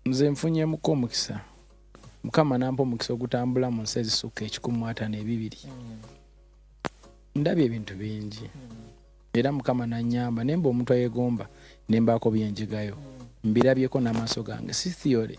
nze nfunyemuko omukisa mukama nampa omukisa ogutambula mu nsi ezisukka ekikumu atano ebibiri mm. ndabye ebintu bingi mm. era mukama nanyamba nemba omuntu ayegomba nembaako byenjigayo mm. mbirabyeko n'amaaso gange si theory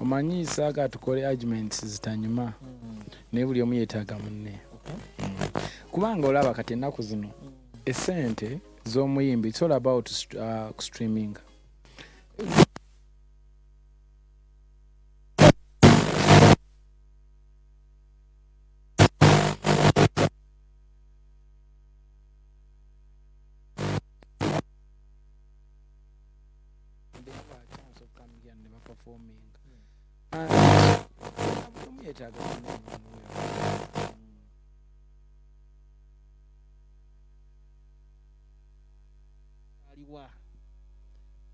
omanyi saaga tukole arguments zitanyuma mm. naye buli omu yetaaga munne mm. kubanga olaba kati ennaku zino mm. esente z'omuyimbi it's all about uh, streaming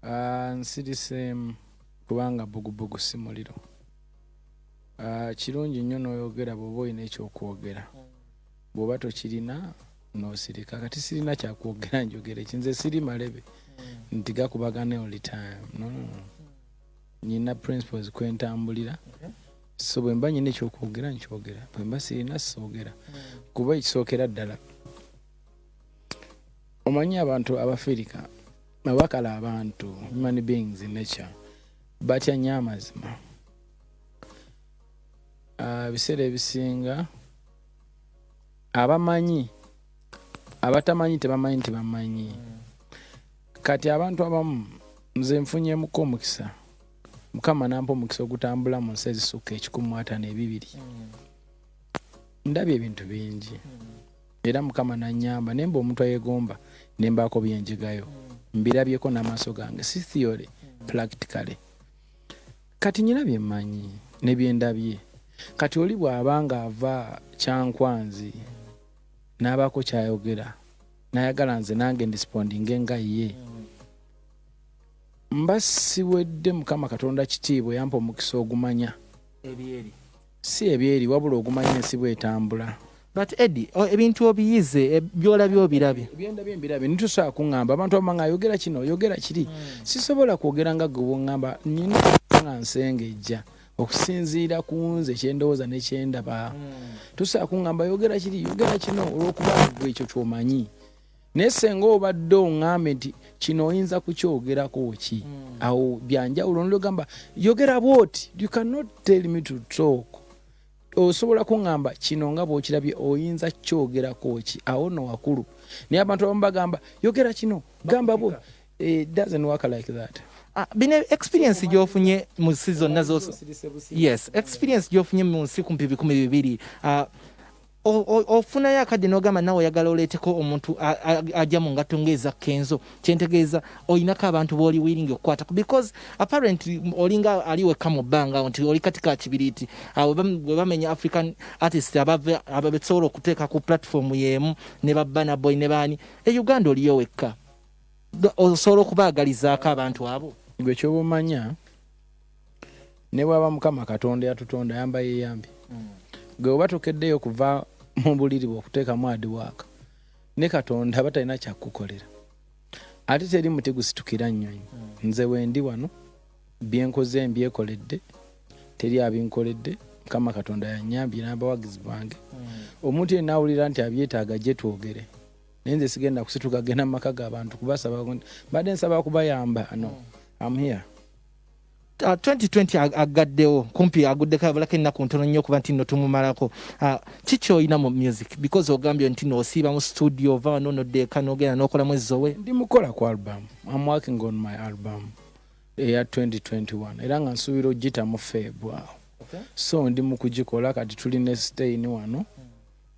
Ah, nsiriseemu kubanga bugubugu si muliro ah, kirungi nnyo n'oyogera bw'oba olina ekyokwogera bw'oba tokirina nosirika kati sirina kyakwogera njogera eki nze siri malebe hmm. nti gakubagana oli time no, no, no. nyina principles kwentambulira okay. so bwemba nyina ekyokwogera nkyogera bwemba sirina soogera hmm. kuba ekisookera ddala omanyi abantu abafirika abakala abantu human beings in nature batya nyo amazima ah, ebiseera ebisinga abamanyi abatamanyi tebamanyi nti bamanyi kati abantu abamu nze nfunyemuko omukisa mukama nampa omukisa ogutambula mu nsi ezisukka ekikumu atano ebibiri ndabye ebintu bingi era mukama nanyamba naye mba omuntu ayegomba nembaako byenjigayo mbirabyeko n'amaaso gange si theory practically Kati nyina bye mmanyi ne bye ndabye. Kati oli bw'aba ng'ava Kyankwanzi n'abaako ky'ayogera n'ayagala nze nange ndisipondinge nga ye, mba siwedde Mukama Katonda kitiibwa eyampa omukisa ogumanya. Si ebyeri wabula ogumanya ensi bwetambula. But Eddie, o- ebintu obiyize e, byolabye obirabye. byendabye mbirabye nitusobola kuŋŋamba abantu abama nga yogera kino yogera kiri sisobola kwogera nga gwe bwoŋŋamba nina okuba nga nsengejja okusinziira ku nze kyendowooza ne kyendaba tusobola kuŋŋamba yogera kiri yogera kino olw'okuba gwe ekyo kyomanyi naye senga obadde ongambe nti kino oyinza kukyogerako ki hmm. awo byanjawulo nogamba yogera bwoti you cannot tell me to talk osobola kuŋamba kino nga bwokirabye oyinza kukyogerako ki awo no wakulu naye abantu abamu bagamba yogera kino gamba bwo eh, it doesn't work like that ah, bino experience gyofunye mu nsi zonna zos yes experience gyofunye mu nsi kumpi bikumi bibiri ah, ofunayo akadde nogamba nawe oyagala oleeteko omuntu ajja mu ngatto ngaeza kenzo kyentegeeza olinako abantu booli wiringi okukwata because apparently olinga ali wekka mu bbanga awo nti oli kati ka kibiriiti awo bwe bamenya african artist ababesobola okuteeka ku platform yeemu ne babbanaboy ne baani e uganda oliyo wekka osobola okubaagalizaako abantu abo gwe kyoba omanya ne bwaba mukama katonda yatutonda yamba yeyambi mm. gwe oba tokeddeyo kuva mu buliri bwe okuteekamu adiwaaka ne katonda aba talina kyakukukolera ate teri muti gusitukira nnyonyi mm. nze wendi wano byenkoze mbyekoledde teri abinkoledde mukama katonda yanyambye n'abawagizi bange mm. omuntu yenna awulira nti abyetaaga gye twogere naye nze sigenda kusituka genda mu maka g'abantu kubasaba mbadde nsaba kubayamba no mm. am here Uh, ah, 2020 ag agaddewo kumpi aguddeko abalako ennaku ntono nnyo okuba nti nno tumumalako uh, ah, kiki olina mu music because ogambye nti no osiiba mu studio ova wano noddeeka nogenda nokola mwezi zowe ndi mukola ku album am working on my album eya 2021 era nga nsuubira ogita mu feebwawo okay. so ndi mu kugikola kati tuli ne stain wano mm.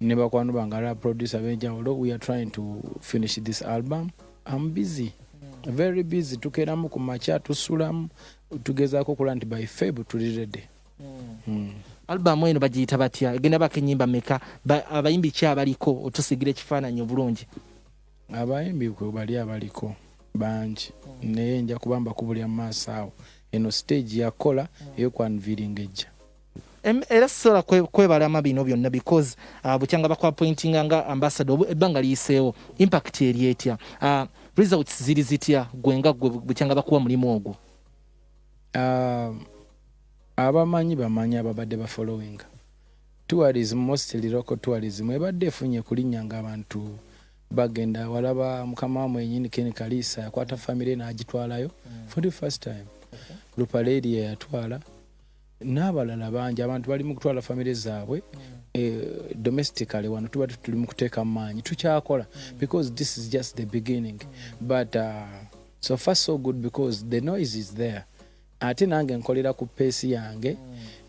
ne bakwano bange ala producer abenjawulo we are trying to finish this album am busy very busy tukeramu ku makya tusulamu tugezaako okulaba nti by feb tuli rede hmm. hmm. albamu eno bagiyita batya egenda bako enyimba meka abayimbi ki abaliko otusigira ekifaananyi obulungi abayimbi bali abaliko bangi hmm. naye nja kubamba kubulya mu maaso awo eno stage yakola eyokwanviringa ejja era sisobola kwebalama bino byonna because uh, bukyanga bakwapointinga nga ambasada ebbanga liyiseewo impact eri etya uh, results ziri zitya gwe nga gwe bukyanga bakuwa mulimu ogwo uh, abamanyi bamanyi ababadde bafollowing tourism mostly local tourism ebadde efunye kulinnya nga abantu bagenda walaba mukama wa mwenyini ken kaliisa yakwata famire n'agitwalayo mm. for the first time okay. lupaleria yatwala n'abalala bangi abantu bali mu kutwala famire zaabwe eh, domestically wano tuba tuli mu kuteeka mu maanyi tukyakola because this is just the beginning but uh, so far so good because the noise is there ate nange nkolera ku peesi yange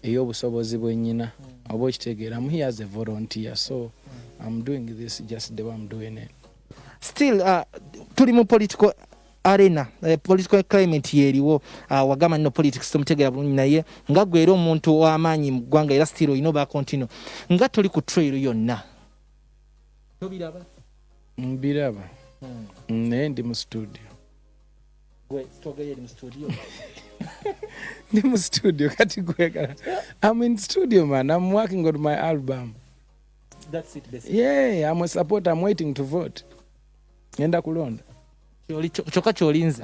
ey'obusobozi bwenyina oba okitegeera am here as a volunteer so am doing this just the way am doing it still uh, tuli mu political arena eh, political climate yeriwo ah, wagamba no politics tomutegera bulungi naye nga gwera omuntu wamaanyi mu ggwanga era still olina oba continue nga toli ku trail yonna tobiraba mbiraba hmm. naye ndi mu studio ndi mu studio kati gwegala am in studio man am working on my album That's it, basically. yeah am a supporter am waiting to vote ngenda kulonda kyoka kyolinze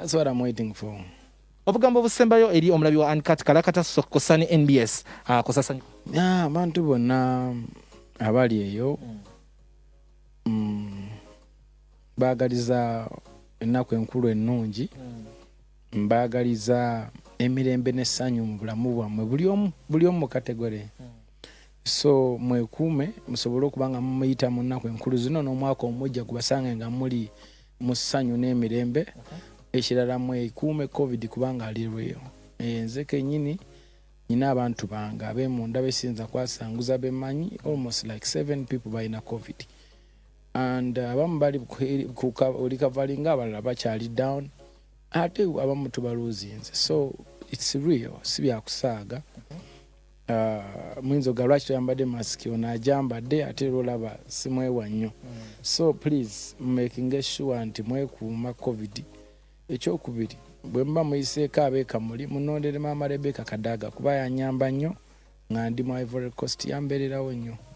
obugambo obusembayo eri omulabi wa ankat kalakata sokosa ne nbs ah, kusasanyu abantu bonna abali eyo mm, bagaliza ennaku enkulu ennungi mm. mbagaliza emirembe n'essanyu mu bulamu bwammwe buli omu mu kategore mm. so mwekuume musobole okuba nga mumuyita mu nnaku enkulu zino n'omwaka omujja gubasanga nga muli mu ssanyu n'emirembe ekirala mwekuume covid kubanga alirweyo eh, nze kenyini nyina abantu bange abemunda besinza kwasanguza bemanyi almost like seven people balina covid and uh, abamu bali olikavalinga abalala bakyali down ate abamu tubaluuzinze so its real si byakusaaga Uh, muyinza oga lwaki toyambadde mask ono ajambadde ate era olaba simwewa nnyo mm. so please making sure nti mwekuuma covid ekyokubiri bwe muba muyiseeko abeekamuli munondere maama rebeka kadaaga kuba yanyamba nnyo nga ndi mu ivory coast yambeererawo nnyo